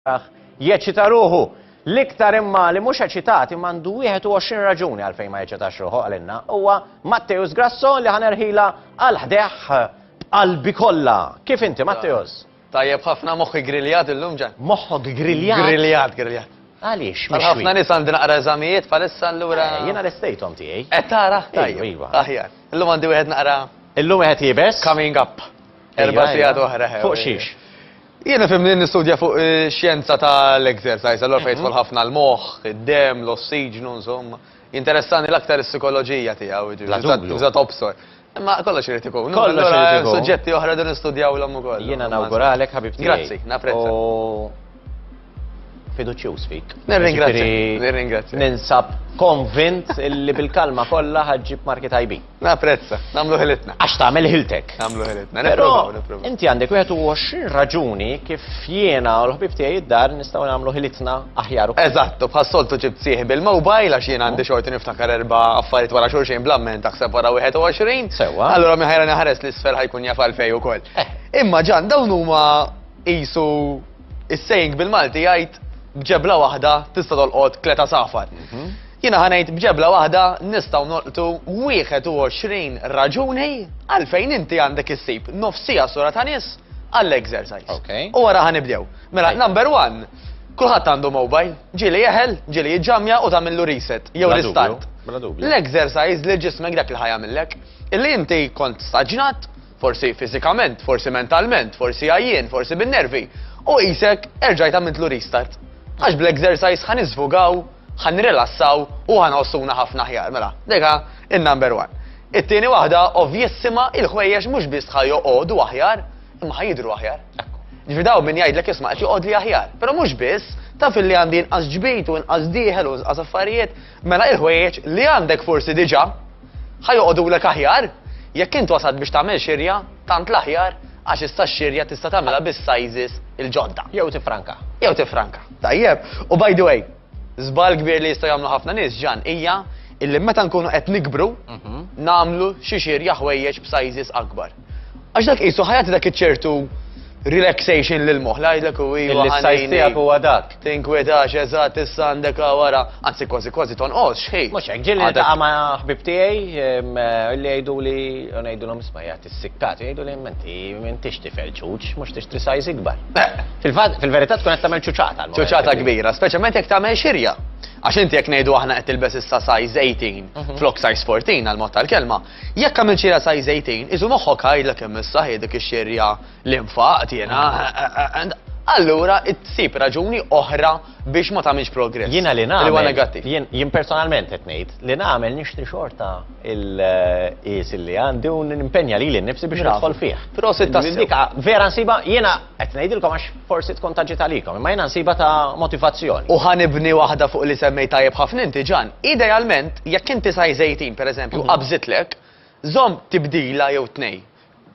tagħh jeċċita ruħu. L-iktar imma li mhux eċitat imma għandu 21 raġuni għalfejn ma jeċċitax ruħu għalinna huwa Matteus Grasso li ħanerħila għal ħdeħ b'qalbi kollha. Kif inti Matteus? Tajjeb ħafna moħħi griljat illum ġan. Moħħok griljat? Griljat, griljat. Għaliex, mhux. Ħafna nies għandi naqra eżamijiet bħalissa allura. Eh, jiena l-estejthom tiegħi. Qed tara? Tajjeb. Iva. Aħjar. Illum għandi wieħed naqra. Illum wieħed jibes? Coming up. Erba' sigħat oħra. Fuq xiex? Jien ifhimni li nistudja fuq ix-xjenza ta' l-exercise, allura fejn jidħol ħafna l-moħħ, id-demm, l-ossiġnu, insomma. Jinteressani l-aktar is-sikoloġija tiegħu, jiġifieri iżda tobsor. Imma kollox irid ikun. Kollox irid ikun. Allura hemm suġġetti oħra rridu nistudjawlhom ukoll. Jiena nawguralek ħabib tiegħi. Grazzi, napprezza. U. fiduċjuż fik. Nirringrazzja. Nirringrazzja. Ninsab konvint li bil-kalma kollha ħaġġib marki tajbin. Naprezza, nagħmlu ħilitna. Għax tagħmel ħiltek. Nagħmlu ħilitna. Però inti għandek 21 raġuni kif jiena u l-ħbib tiegħi id-dar nistgħu nagħmlu ħilitna aħjar ukoll. Eżattu, bħas-soltu ġib sieħ bil-mobile għax jiena għandi xorti niftakar erba' affarijiet wara xulxin blamment taħseb wara 21. Sewwa. Allura minn ħajra naħares l-isfel ħajkun jaf għalfej ukoll. Eh. Imma ġan dawn huma Qisu is-saying bil-Malti jgħid b'ġebla waħda tista' tolqot tliet għasafar. Mhm. Jiena ħanejt b'ġebla waħda nistgħu nolqtu 21 raġuni għalfejn inti għandek issib nofsija sura ta' nies għall-exercise. U wara ħanibdew. Mela, number one, kulħadd għandu mobile, ġili jeħel, ġili jġamja u tagħmillu reset jew restart. L-exercise li ġismek dak li ħajamillek, illi inti kont staġnat, forsi fiżikament, forsi mentalment, forsi għajjien, forsi bin-nervi, u qisek erġajt għamiltlu restart. Għax bl-exercise ħa niżfugaw, ħa nirrilassaw u ħa nħossuna ħafna aħjar. Mela, deka in-number one. It-tieni waħda ovvjissima il-ħwejjeġ mhux biss ħa joqogħdu aħjar, imma ħa jidhru aħjar. Ġifi daw min jgħidlek isma' qed joqgħod li aħjar, però mhux biss, taf illi għandi inqas ġbid u inqas dieħel u inqas affarijiet, Mela il-ħwejjeġ li għandek forsi diġà ħa joqogħdulek aħjar jekk int wasalt biex tagħmel xirja tant l-aħjar għax issa x-xirja tista' tagħmilha bis-sizes il-ġodda. Jew tiffranka. Jew tiffranka. Tajjeb. U by the way, żball kbir li jistgħu jagħmlu ħafna nies ġan hija illi meta nkunu qed nikbru nagħmlu xi xirja ħwejjeġ b'sizes akbar. Għax dak qisu ħajati dak iċ-ċertu relaxation lil moħħ jgħidlek u iva. L-sajs tiegħek huwa dak. Tinkwetax eżatt issa għandek wara, anzi kważi kważi tonqos xħi. Mhux hekk ġieli ta' ma' ħbib tiegħi li jgħidu li ngħidulhom isma' jgħid is-sikkat jgħidu li menti m'intix tifel ċuċ, mhux tixtri sajs ikbar. Fil-verità tkun qed tagħmel ċuċata. Ċuċata kbira, speċjalment jekk tagħmel xirja. Għax inti jekk ngħidu aħna qed tilbes issa size 18 mhm. flok size 14 għal mod tal-kelma, Jekk għamilt xi rasaj żejtin, isu moħħok għajdlek kemm is-saħħi dik ix-xirja li nfaqt jiena. Allura tsib raġuni oħra biex ma tagħmilx progress. Jiena li nagħmel. Li negattiv. Jien personalment qed ngħid li nagħmel nixtri xorta il-qis li għandi u nimpenja lili nnifsi biex nidħol fih. Prosit ta' dik vera nsiba jiena Qed ngħidilkom għax forsi tkun ta' ġid għalikom, imma jiena nsibha ta' motivazzjoni. U ħa nibni waħda fuq li semmejt tajjeb ħafna inti Ġan, idealment jekk inti sajr żejtin pereżempju qabżitlek, żomm tibdila jew tnejn.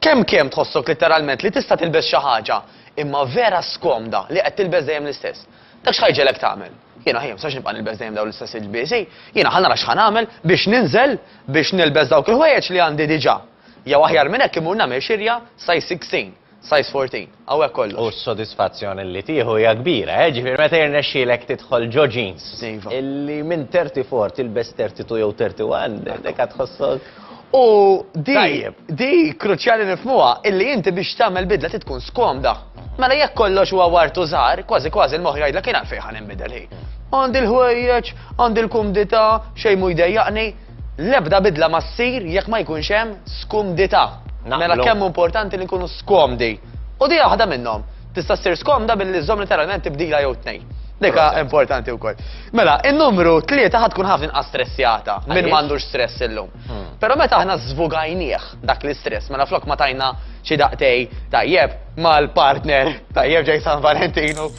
Kemm kemm tħossok litteralment li tista' tilbes xi ħaġa imma vera skomda li qed tilbes dejjem l-istess. Dak x'ħa jġegħlek tagħmel? Jiena ħi m'sax nibqa' nilbes dejjem dawn l-istess ilbiesi, jiena ħa nara x'ħa nagħmel biex ninżel biex nilbes dawk il-ħwejjeġ li għandi diġà. Jew aħjar minn hekk immur nagħmel xirja size 16. Size 14, hawnhekk kollox. U s-sodisfazzjon li tieħu hija kbira, eh, ġifieri meta jirnexxielek tidħol ġo jeans. Iva. Li minn 34 tilbes 32 jew 31, dik għad tħossok. U di, di kruċjali nifhmuha illi inti biex tagħmel bidla trid tkun skomda. Mela jekk kollox huwa wart u żgħar, kważi kważi l-moħħ jgħidlek kien għalfejn ħa ninbidel hi. Għandi l-ħwejjeġ, għandi l-kumdità, xejn mhu jdejjaqni, L-ebda bidla ma ssir jekk ma jkunx hemm skumdità. Naqblu. Mela kemm hu importanti li nkunu skomdi. U din hija waħda minnhom. Tista' ssir skomda billi żżomm literalment tibdila jew tnejn. Dik hija importanti wkoll. Mela, in-numru tlieta ħa tkun ħafna inqas stressjata minn ma għandux stress illum. Però meta aħna żvugajnieh dak l-istress, mela flok ma tajna xi daqtej tajjeb mal-partner tajjeb ġej San Valentinu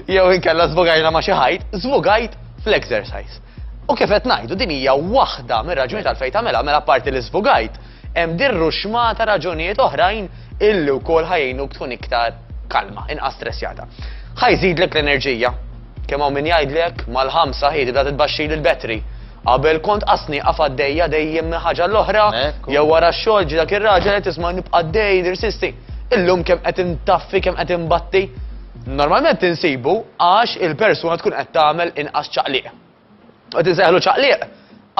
jew inkella żvugajna ma' xi ħajt, żvugajt fl-exercise. U kif qed ngħidu din hija waħda mir-raġuni tal-fejn tagħmilha mela parti li żvugajt hemm dirru xmata raġunijiet oħrajn illi wkoll ħajjinu tkun iktar kalma, inqas stressjata. Ħajżidlek l-enerġija. Kemm hawn min jgħidlek mal-ħamsa ħiedi da titbaxxi l-betri. Qabel kont qasni qaf għaddejja dejjem minn ħaġa l-oħra, jew wara x-xogħol ġi dak ir-raġel qed tisma' nibqa' dej nirsisti. Illum kemm qed intaffi kemm qed imbatti, Normalment insibu għax il-persuna tkun qed tagħmel inqas ċaqliq. Qed insejħlu ċaqliq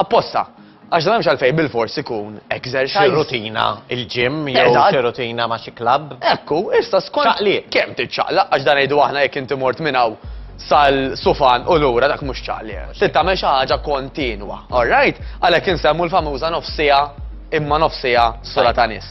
apposta. Għax dan mhux għalfejn bil-fors ikun exercise. Xi rutina il-ġim jew xi rutina ma' xi klabb. Ekku, issa skont. Ċaqliq. Kemm tiċċaqlaq għax dan ngħidu aħna jekk inti mort minn hawn sal-sufan u lura dak mhux ċaqli. Tittamel xi ħaġa kontinwa, all right? Għalhekk insemmu l-famuża nofsija imma nofsija sola ta' nies.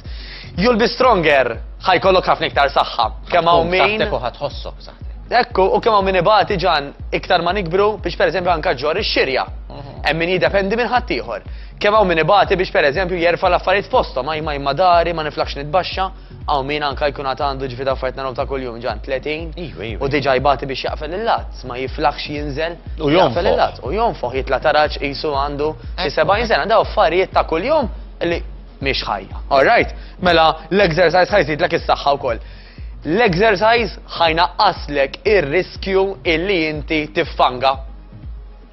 You'll be stronger, ħajkollok ħafna iktar saħħa. Kemm hawn min. Saħtek u ħatħossok saħtek. Ekku, u kemm hawn min ibati ġan iktar ma nikbru biex pereżempju anka ġor ix-xirja. Mhm. Hemm min jiddependi minn ħaddieħor. Kemm hawn min ibati biex pereżempju jerfa' l-affarijiet fosthom, ma jma imma dari, ma niflax nitbaxxa, hawn min anka jkun għad għandu ġifi affarijiet naraw ta' kuljum ġan 30. Iva, iva. U diġà jbati biex jaqfel il-lat, ma jiflaħx jinżel. U jaqfel il-lat, u jonfoħ jitla' taraġ qisu għandu xi 70 sena, daw affarijiet ta' kuljum li mhix ħajja. All right? Mela l-exercise ħajżidlek is-saħħa wkoll. L-exercise ħajnaqqaslek ir-riskju illi inti tiffanga.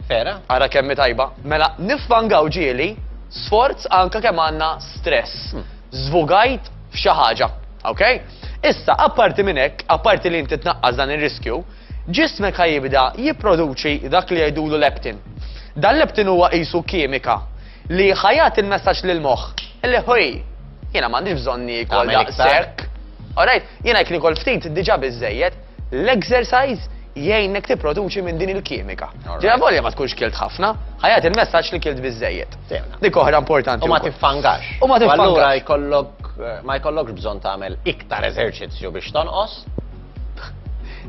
Vera? Ara kemmi tajba. Mela niffangaw ġieli sforz anka kemm għandna stress. Hmm. Zvugajt f'xi ħaġa. Ok? Issa, apparti minn hekk, apparti li inti tnaqqas dan ir-riskju, ġismek ħajibda jipproduċi dak li jgħidulu leptin. Dan leptin huwa qisu kimika Li ħa jagħti l-messaġġ lill-moħħ li ħuj, jiena m'għandix bżonn niekol daqshekk. Alright, jiena jekk nikol ftit diġà biżejjed, l-exercise jgħinnek tipproduċi minn din il-kimika. Ġeja volja ma tkunx kilt ħafna, ħajat il-messaġġ li kilt biżejjed. Dik oħra importanti. U ma tiffangax. U ma tiffangax. Allura jkollok ma jkollokx bżonn tagħmel iktar eżerċizzju biex tonqos,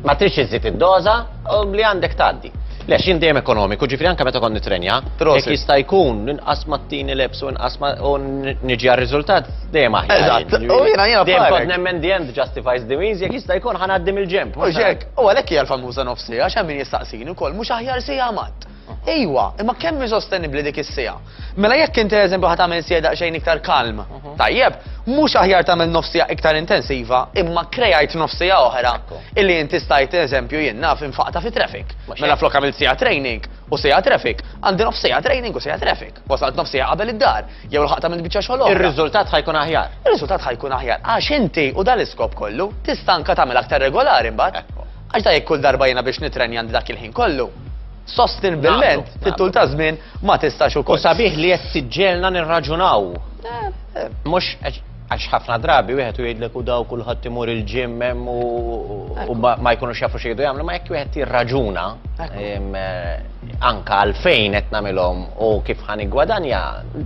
Ma trix iżid id-doża u li għandek tgħaddi. Le, xin dejjem ekonomiku, ġifri anka meta kont nitrenja, jekk jista' jkun inqas ma tini lebs u inqas ma u niġi għar-riżultat dejjem aħjar. Eżatt, u jiena jiena dejjem kont nemmen the end justifies the means jekk jista' jkun ħanaddim il-ġemp. U xek, u għalhekk hija l-famuża nofsija, x'hemm min jistaqsini wkoll mhux aħjar sija mat. Ejwa, imma kemm hi sostenibbli dik is-siegħa? Mela jekk inti eżempju ħadd tagħmel siegħa daqsxejn iktar kalm, mhm. tajjeb, mhux aħjar tagħmel nofs siegħa iktar intensiva, imma krejajt nofs siegħa oħra illi inti stajt eżempju jien naf infaqta fi traffic. Mela flok għamil siegħa training u siegħa traffic, għandi nofs siegħa training u siegħa traffic. Wasalt nofs siegħa qabel id-dar, jew l-ħaq tagħmel biċċa xogħol. Ir-riżultat ħajkun aħjar. Ir-riżultat ħajkun aħjar għax inti u dal-iskop kollu tista' anka tagħmel aktar regolari mbagħad. Għax da jekk kull darba jiena biex nitrenja għandi dak il-ħin kollu, sostenibilment fit-tul ta' żmien ma tistax ukoll. U sabiħ li qed tiġġelna nirraġunaw. Eh, eh. Mhux għax ħafna drabi wieħed u jgħidlek u daw kulħadd imur il-ġim hemm u ma jkunux jafu xi jgħidu jagħmlu, ma jekk wieħed jirraġuna eh, anka għalfejn qed nagħmilhom u kif ħan igwadanja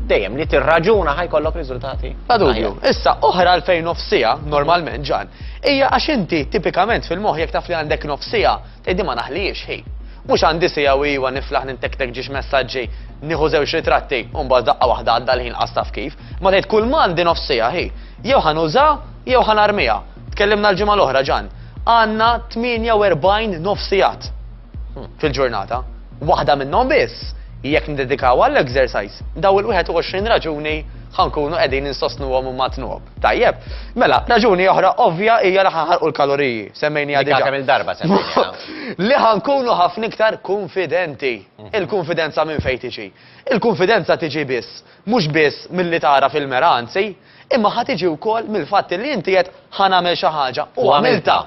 dejjem li tirraġuna ħajkollok riżultati. Bla dubju. Issa oħra għalfejn nofsija normalment ġan Hija għax inti tipikament fil-moħħ jekk taf li għandek nofs siegħa, tgħid din ma naħlihiex hi. Mhux għandi siegħa u iwa niflaħ nintektek ġiex messaġġi, nieħu żewġ ritratti u mbagħad daqqa waħda għadda l-ħin qas taf kif, imma tgħid kulma għandi nofs siegħa hi. Jew ħa nuża jew ħa narmiha. Tkellimna l-ġimgħa l-oħra Ġan. Għandna 48 nofs sigħat hmm, fil-ġurnata. Waħda minnhom biss jekk ndedikaw għall-exercise daw il-21 raġuni ħankunu qegħdin insostnuhom u matnuhom. Tajjeb. Mela, raġuni oħra ovvja hija li ħanħarqu l-kaloriji. Semmejniha diġà. Kemm il-darba semmejniha. Li ħankunu ħafna iktar kunfidenti. Mhm. Il-kunfidenza minn fejn tiġi. Il-kunfidenza tiġi biss, mhux biss milli tara fil-mera anzi, imma ħa tiġi wkoll mill-fatt li inti qed ħanagħmel xi ħaġa u għamilta.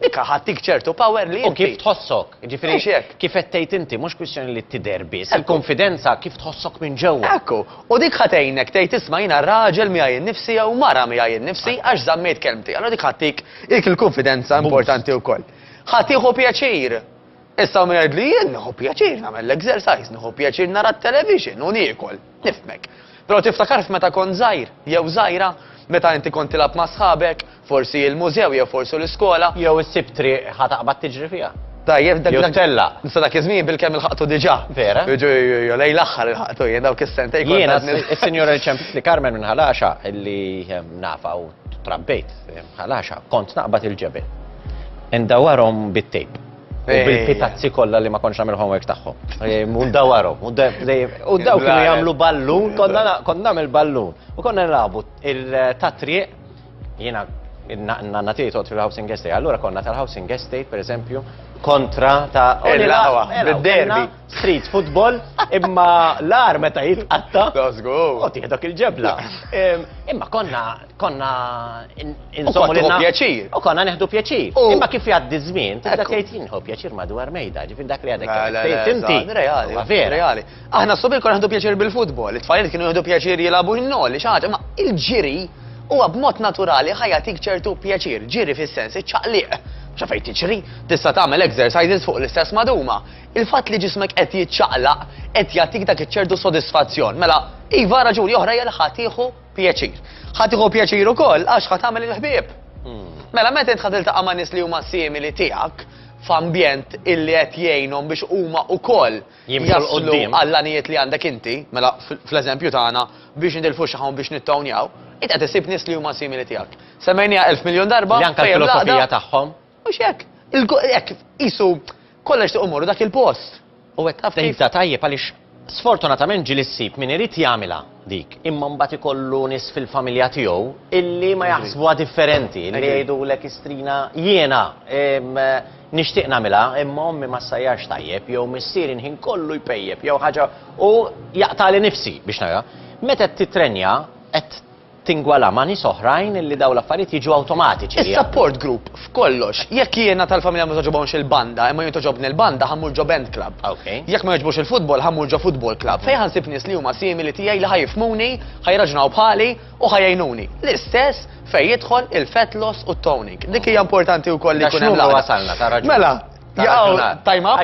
Dik ħadtik ċertu power li inti. U kif tħossok. Jiġifieri Mhux hekk. kif qed tgħid inti, mhux kwistjoni li tidher biss, Ekku. il-kunfidenza kif tħossok minn ġewwa. Ekku. U dik ħa tgħinek tgħid isma' jiena raġel miegħi nnifsi jew mara miegħi nnifsi għax żammejt kelmti. Allura dik ħa ttik dik il-kunfidenza Boost. importanti wkoll. Ħa tieħu pjaċir. Issa min jgħidli jien nieħu pjaċir nagħmel l-exercise, nieħu pjaċir nara t-television u niekol, nifhmek. Però tiftakar f'meta kont żgħir jew żgħira, meta inti kont tilgħab ma' sħabek, forsi il-mużew jew forsu l-iskola. Jew issib triq ħa taqbad tiġri fiha. Tajjeb dak. Jew tellaq. Issa dak iż-żmien bilkemm ilħaqtu diġà. Vera. Jiġu jew lejn l-aħħar ilħaqtu jien dawk is-sentejn. Jiena s-Sinjura li ċempitli Carmen minn Ħal Għaxaq illi nafha u Trabbejt bħal għaxa, kont naqbad il-ġebel. Indawarhom bit-tejp. U eh. bil-pitazzi kollha li ma konċ nagħmel homework tagħhom. Eh, u ndawarhom, u daw kienu jagħmlu ballun, konna nagħmel ballun. U konna nilagħbu il-tatriq jiena nanna tiegħi fil-housing estate. Allura konna tal-housing estate, per eżempju, kontra ta' il-lawa, bil-derbi. street football, imma l-ar meta jitqatta. Da żgur. U tieħdok il-ġebla. Em, Imma konna konna in- insommu kont tieħu pjaċir. U konna neħdu pjaċir. U- Imma kif jgħaddi żmien, tibda Ekku. tgħid jinħu pjaċir madwar mejda, ġifir dak li għadek. La, la, tgħid la, inti. eżatt, reali, Huwa vera. reali. Aħna s-subir konna ħdu pjaċir bil-futbol, it-tfajliet kienu jħdu pjaċir jilabu jinnoli, xaġa, ma il-ġiri huwa b'mod naturali ħajatik ċertu pjaċir, ġiri fis-sens iċċaqliq. Xa fejn tiġri, tista' tagħmel exercises fuq l-istess maduma. Il-fatt li ġismek qed jiċċaqlaq qed jagħtik dak iċ-ċertu sodisfazzjon. Mela, iva, raġuni oħra hija li ħa tieħu pjaċir. Ħa tieħu pjaċir ukoll għax ħa tagħmel il-ħbieb. Mela meta int ħa tiltaqa' ma' nies li huma simili tiegħek f'ambjent illi qed jgħinhom biex huma wkoll Jimxu 'l jaslu quddiem. għall-għanijiet li għandek inti, mela fl- fl-eżempju tagħna biex nitilfu xi ħawn biex nittownjaw, int qed issib nies li huma simili tiegħek. Semmejniha elf miljun darba, Li anke fejn l-filosofija l-għaqda- tagħhom. Mhux hekk. Il-ko- Hekk, qisu Kollha jixtiequ jmorru dak il-post. U qed taf kif? Tibda tajjeb għaliex sfortunatament ġieli ssib min irid jagħmilha dik, imma mbagħad ikollu nies fil-familja tiegħu illi ma jaħsbuha differenti, li jgħidulek istrina jiena nixtieq nagħmilha imma ommi ma ssajjarx tajjeb jew missieri l-ħin kollu jpejjep jew ħaġa u jaqtagħli nifsi biex nagħmilha. Meta qed tittrenja qed tingwala ma' nies oħrajn li dawn l-affarijiet jiġu awtomatiċi. Is-support group f'kollox. Jekk jiena tal-familja ma togħġobhomx il-banda imma jien togħġobni l-banda ħa mmur ġo band club. Jekk ma jogħġbux il-futbol ħa mmur ġo futbol club fejn ħa nsib nies li huma simili tiegħi li ħa jifhmuni, ħa jirraġunaw bħali u ħa jgħinuni. L-istess fejn jidħol il-fat loss u t-toning. Dik hija importanti wkoll li jkun hemm l-għaqda. Sa x'numru wasalna, ta' raġun. Mela, jaqgħu time up,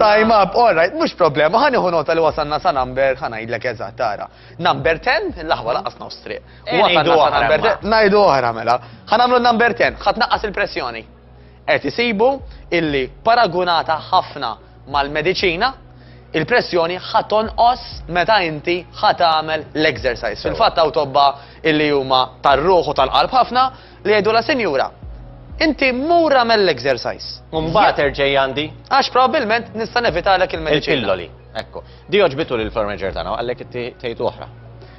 time up, all right, mhux problema, ħa nieħu nota li wasalna sa number ħa ngħidlek eżatt ara. Number 10, l-aħwa laqqas nofs triq. Eh, Huwa ngħidu tan-nasa oħra, number imma. 10. Ngħidu oħra mela. Ħa nagħmlu number 10, ħa tnaqqas il-pressjoni. Qed isibu illi paragunata ħafna mal-mediċina, il-pressjoni ħa tonqos meta inti ħa tagħmel l-exercise. Fil-fatt hawn tobba illi huma tar-ruħ u tal-qalb ħafna li jgħidu la sinjura. Inti mur għamel l-exercise. Mbagħad erġej għandi Għax probabbilment nista' nevitalek il-mediċina. il-pilloli. Ekku. Di għoġbitu lil floor manager tagħna u qallek tgħid oħra.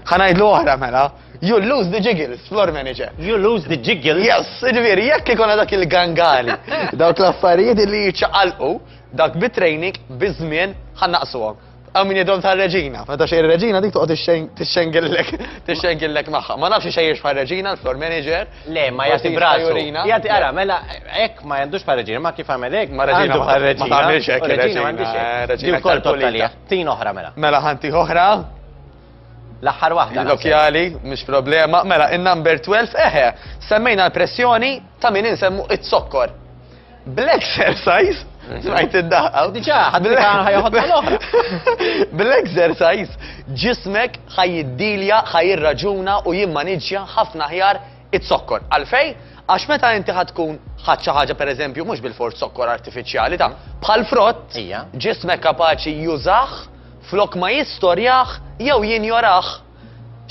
Ħa ngħidlu oħra mela. You lose the jiggles, floor manager. You lose the jiggles? Yes, ġifieri jekk ikun dak il-gangali. Dawk l-affarijiet li jiċċaqalqu dak bit-training biż-żmien ħa naqsuhom. Għamin jidom ta' reġina, meta xej reġina dik toqgħod tixxengillek, tixxengillek magħha. Ma nafx xejn xfar reġina l-floor manager, Le, ma jagħti brasu. Jagħti ara, mela hekk ma għandux paraġina, ma kif għamel hekk, ma raġina ma tagħmilx hekk. Raġina m'għandix hekk. Raġina wkoll tottalija. Tin oħra mela. Mela ħanti oħra. L-aħħar waħda. Lokjali, mhux problema. Mela, in-number 12, eħe, semmejna l-pressjoni ta' min insemmu it-sokkor. Bl-exercise, smajt id-daħqa. Diġa, ħaddi ħajħodna l-oħra. Bl-exercise, ġismek ħajiddilja, ħajirraġuna u jimmaniġja ħafna ħjar it-sokkor. Għalfej, għax meta inti ħatkun ħadċa ħaġa per eżempju, mux bil-fort sokkor artificiali ta' bħal frott, ġismek kapaċi jużax flok ma jistorjaħ jew jinjoraħ.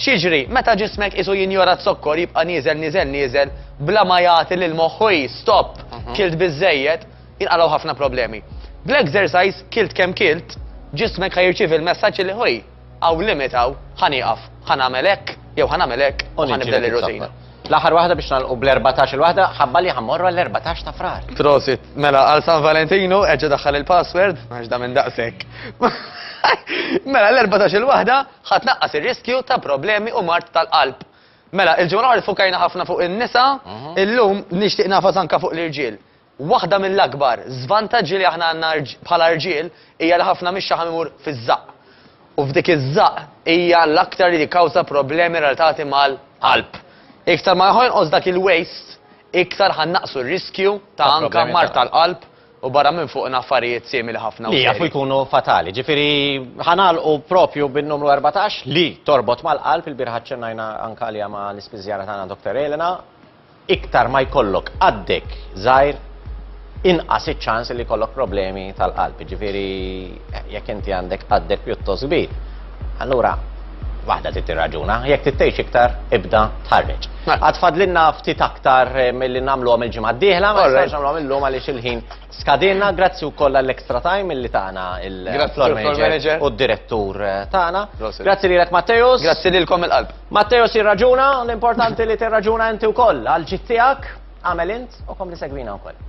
X'jiġri meta ġismek qisu jinjora z-zokkor jibqa' nieżel nieżel nieżel bla ma jagħti lil moħħu hi, stop, kilt biżżejjed, jinqalgħu ħafna problemi. Bl-exercise, kilt kemm kilt, ġismek ħa jirċievi l-messaġġ li hi, hawn limit hawn, ħa nieqaf, ħa nagħmel hekk jew ħa nagħmel hekk u ħa nibdel ir-rutina. L-aħħar waħda biex nagħlqu bl-erbatax il-waħda, ħabba li ħa mmorru għall-erbatax ta' Frar. Prosit, mela għal San Valentinu erġa' daħħal il-password għax da minn daqshekk. Mela l-erbatax il-waħda Ħa tnaqqas ir-riskju ta' problemi u mard tal-qalb. Mela, il-ġimgħa l-oħra ffukajna ħafna fuq in-nisa, illum nixtieq nagħfas anke fuq l-irġiel. Waħda mill-akbar żvantaġġi li aħna għandna bħala rġiel hija li ħafna mix-xaħam imur fiż-żaqq. U f'dik iż-żaqq hija l-aktar li tikkawża problemi relatati mal-qalb. Iktar ma ħa jonqos dak il-waste, iktar ħa nnaqqsu r-riskju ta' anke mard tal-qalb U barra minn fuqna affarijiet simili ħafna u serji. Li jafu jkunu fatali. Ġifieri ħa nagħlqu proprju bin-numru 14 li torbot mal-qalb, ilbieraħ aċċennajna anke għaliha ma' l-ispiżjara tagħna Doctor Elena, iktar ma jkollok qaddek żgħir inqas iċ-ċans li jkollok problemi tal-qalb. Jiġifieri jekk inti għandek qaddek pjuttost kbir, Allura, waħda trid tirraġuna, jekk trid tgħix iktar, ibda tħarreġ. Għad fadlinna ftit aktar eh, milli nagħmluhom il-ġimgħa d-dieħla, ma nistax nagħmluhom illum għaliex il-ħin skadinna, grazzi wkoll għall-extra time illi tagħna il-floor manager u d-direttur eh, tagħna. Grazzi lilek Matteus. Grazzi lilkom il-qalb. Matteus jirraġuna, l-importanti li tirraġuna inti wkoll għal ġittijak, għamel int u kom li segwina wkoll.